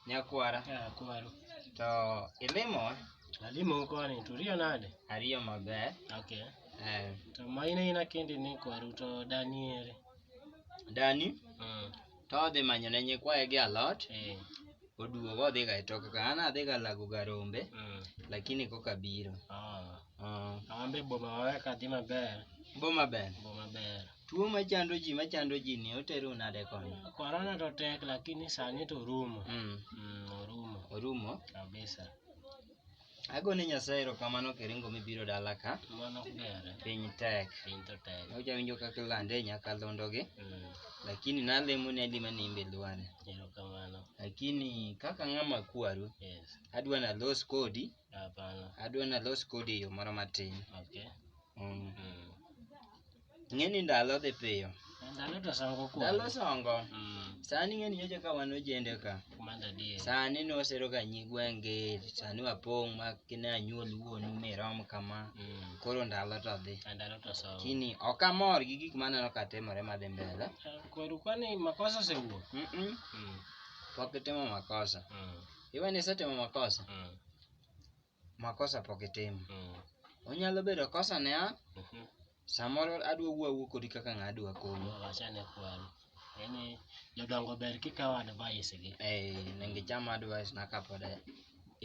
Nyakwara. Ah, kwaro. To ilimo? Alimo koni, to riyo nade? Ariyo maber. Okay. Eh. To ma in aina kendi ni kwaru to dani ere? Dani? Mm. To odhi manyo ne nyikwaye gi alot. Eh. Oduogo odhi ga e tok ka an adhi ga lago ga rombe. Mm. Lakini koka biro. Ah. Uh. Awambe boma wawe kadhi maber. Boma ber. Boma ber. Tuo machando ji machando ji ni oteru nade koni? Korona to tek lakini sani to orumo. Mm. Mm, orumo Orumo. kabisa. Agone Nyasaye erokamano kiringo mibiro dala ka. Mano ok gere. Piny tek. Piny to tek. Oja winjo kaka ilande e nyakalondo-gi, Mm, lakini nalemo ni adi ma nimbe lwane. erokamano. Lakini kaka ng'ama kwaru, Yes. adwa nalos kodi, Hapana. adwa nalos kodi e yo moro matin. Okay. Mm. Mm. Ng'e ni ndalo dhi piyo. Ndalo to songo kuom. Ndalo songo. Mm. Sani ng'e ni nyocha ka wan ojende ka. Kumanda die. Sani ne wasero ka nyi gwenge, sani wapong' ma kine anyuol wuonu mirom kama. Mm. Koro ndalo to dhi. Ndalo to songo. Kini ok amor gi gik maneno ka timore madhi mbele. Eh, koro kwani makosa osewuok. Mm -mm. Mm. Pok itimo makosa. Mm. Iwe ni isetimo makosa. Mm. makosa pok itimo mm. onyalo bedo kosa ne an mhm. samoro adwa wuowu kodi kaka ng'a adwa konyi yani jodongo ber kikawo advice gi eh nengi chama advice na kapod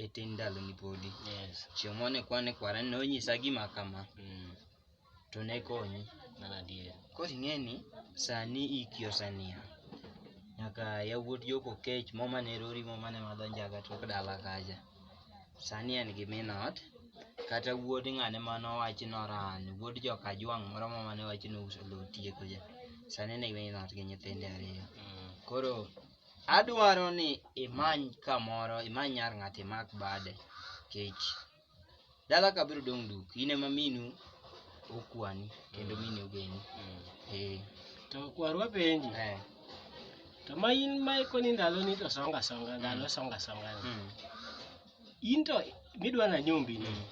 itin ndalo ni podi yes chieng' mane kwane kwara ne onyisa gima kama mm. to ne konyi mana adier. Koro ing'eni sani iki oseniang', nyaka yawuot joko kech mo mane rori mo mane madho njaga tok dala kacha. Sani en gi min ot, kata wuod ng'ane mane owachi noran, wuod joka Ajwang' moro ma mane owachi nouso lowo tieko cha. Sani en gi min ot gi nyithinde ariyo. Koro adwaro ni imany kamoro, imany nyar ng'ato imak bade kech Dala ka biro dong' duk, in ema minu okwani kendo mini ogeni. Mm. Eh. To kwarwa penji. Eh. To ma in ma ikoni ndalo ni to songa songa, mm. ndalo songa songa. Mm. In to midwa na nyombi ni. Mm.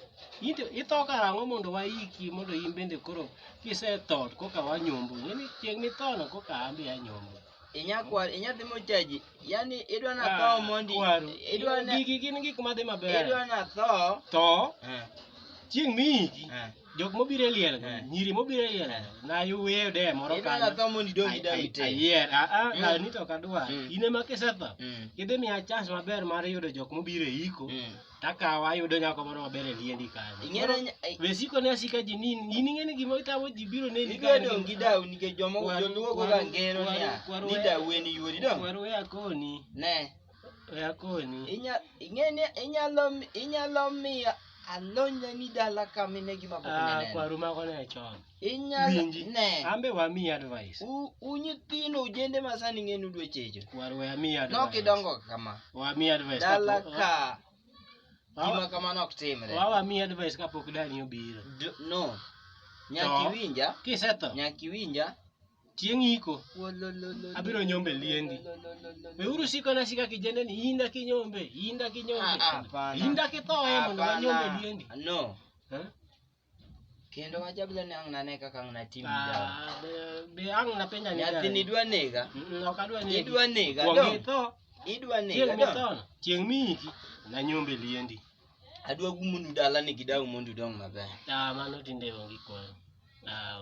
In to itho karang'o mondo waiki mondo in bende koro kisetho koka wanyombo. Ng'eni chieng' mithono koka ambi anyombo. Inyakwar, inyadhi mochaji. Yaani idwa na tho Ah, mondi. kwaru. Idwa na Gigi gin gik ma dhi maber. idwa na tho. To Eh, chieng' miiki eh. jok mobiro e liel Eh. nyiri mobiro e liel nayuweyo de moro Idwa na tho mondi dongi dawi te. ayier aa Mm. dani to ok adwar Mm. in ema kisetho Mm. idhi miya chance maber mar yudo jok mobiro e iko Mm. takawa ayudo nyako moro maber e liendi kanyo. Ing'ere nya- ai- Be siko ne asika ji ni in ing'e ni gima itamo ji biro neni Igwe dong' gi dawu nikech joma Kwaru- joluo goga kwaru- ngero kwaru- niya, kwaru- ni dawu en yuori dong'. Kwaru we akoni, Ne, we akoni. inya- ing'e ni inyalo mi- inyalo miyo alonyni dala kaminegi mapok Ah, ineneno. kwaru mago ne chon. Inyalo Winji. ne. Ambe wamiyi advice. U- u nyithindo ujende ma sani ng'enu dwechecho War we amiyi advice. nok idongo kama Wamiyi advice. dala kapok- ka Wa- gima kamano ok timre Wa wamiyi advice kapok dani obiro. D- no nyaka To. iwinja Kisetho, nyaka iwinja chieng' iko. Wololololo. Abiro nyombe liendi. Wololololo. Weuru siko na sika kijende ni inda kinyombe, inda Ah, ah, kinyombe. hapana. Inda kithoe mondo Hapana. wanyombe liendi. no Eh? Kendo wajabla ni ang' nane kaka ang' natim Ah, dawa. be, be ang' napenja ni Nyathi gani? nidwa nega. Mm, mm, ok adwa negi. Idwa nega. Kuong' dong. itho, Idwa nega. chieng' dong. mithono, chieng' miyiki, nanyombe liendi. Adwa gumundu dalani gi dawu mondo udong maber. Ah, mano tinde onge kwan. Ah,